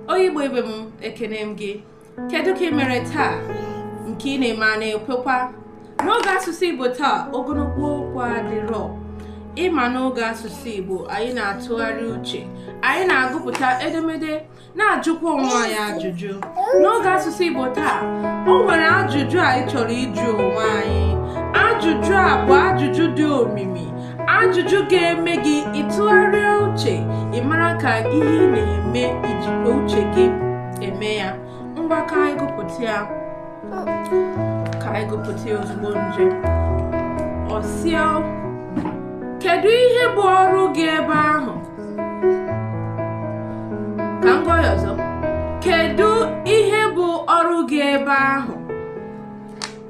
onye igbo ibe m ekene m gị kedu ka ị mere taa nke ị na-eme a na-ekwekwa n'oge asụsụ igbo taa ogologo okwu adịrọ ị ma n'oge asụsụ igbo anyị na-atụgharị uche anyị na-agụpụta edemede na-ajụkwa onwe anyị ajụjụ n'oge asụsụ igbo taa o nwere ajụjụ anyị chọrọ ịjụ onwe anyị ajụjụ a bụ ajụjụ dị omimi ajụjụ ga-eme gị ị tụgharịa uche ị mara ka ihe ị na-eme i jikwa uche gị eme ya ngwa ka anyị gụpụta ya ka anyị gụpụta ya ozugbo nje ọ sị kedu ihe bụ ọrụ gị ebe ahụ ka m gụa ya ọzọ kedu ihe bụ ọrụ gị ebe ahụ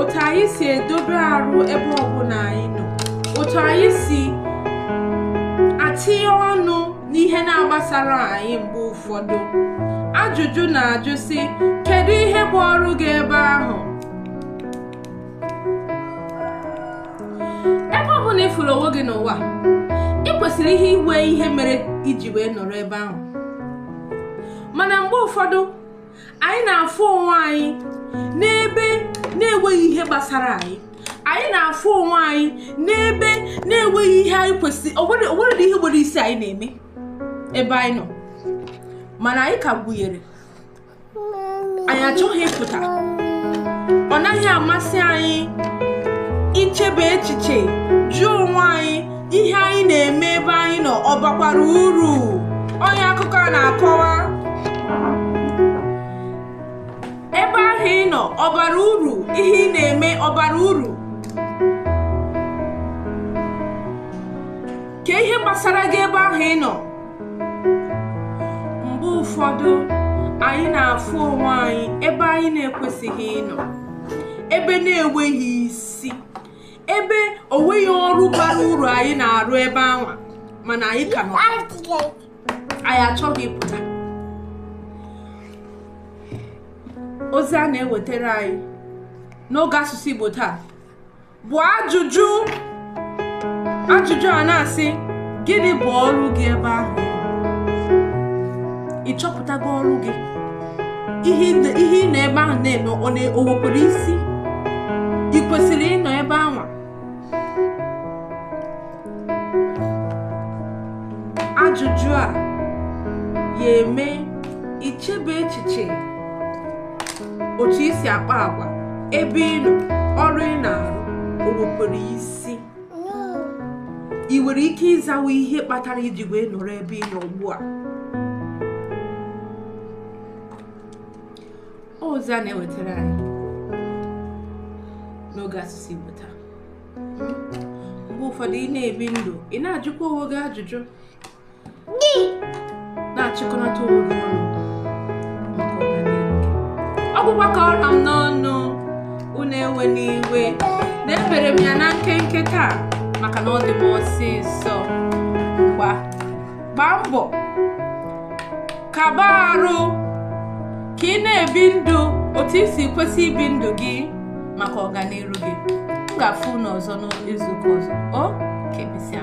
otu anyị si edobe arụ ebe ọbụla anyị nọ otu anyị si atinye ọnụ n'ihe na-agbasarọ anyị mgbe ụfọdụ ajụjụ na-ajụ sị kedu ihe bụ ọrụ gị ebe ahụ ebe ọbụla ị fụrụ onwe gị n'ụwa ị kwesịrị ihe inwe ihe mere i ji wee nọrọ ebe ahụ mana mgbe ụfọdụ anyị na-afụ onwe anyị n'ebe na-enweghị ihe gbasara anyị anyị na-afụ onwe anyị n'ebe na-enweghị ihe anyị kwesịrị o nwerọ ihe nwere isi anyị na-eme ebe anyị nọ mana anyị ka gụnyere anyị achọghị ịpụta ọ naghị amasị anyị ichebe echiche jụọ onwe anyị ihe anyị na-eme ebe anyị nọ ọ bakwara uru onye akụkọ a na-akọwa ebe ahụ ị nọ ọ bara uru ihe ị na-eme ọ bara uru kee ihe gbasara gị ebe ahụ ị nọ mgbe ụfọdụ anyị na-afụ onwe anyị ebe anyị na-ekwesịghị ịnọ ebe na-enweghị isi ebe o nweghị ọrụ bara uru anyị na-arụ ebe anwa mana anyị ka nọ anyị achọghị ịpụta ozi a na-ewetara anyị n'oge asụsụ Igbo taa bụ ajụjụ ajụjụ a na-asị gịnị bụ ọrụ gị ebe ahụ ị chọpụtago ọrụ gị ihe ị nọ ebe ahụ na-eme o nwekwara isi ị kwesịrị ịnọ ebe anwa ajụjụ a ya-eme i chebe echiche otu i si akpa agwa ebe ị nọ ọrụ ị na-arụ o nwekwara isi ị nwere ike ịzawa ihe kpatara i ji wee nọrọ ebe ị nọ ugbu a ozi a na-ewetara anyị n'oge asụsụ Igbo taa mgbe ụfọdụ ị na-ebi ndụ ị na-ajụkwa onwe gị ajụjụ ị na-achịkọnata onwe gị ọnụ maka ọganihu gị ọ bụkwa ka ọ ra m n'ọnụ unu ewena iwe na ebere m ya na nkenke taa maka na ọ dị m ọsịsọ ngwa gbaa mbọ kaba arụ ka ị na-ebi ndụ otu i si kwesị ibi ndụ gị maka ọganihu gị m ga-afụ unu ọzọ n'izuụka ọzọ o ka emesịa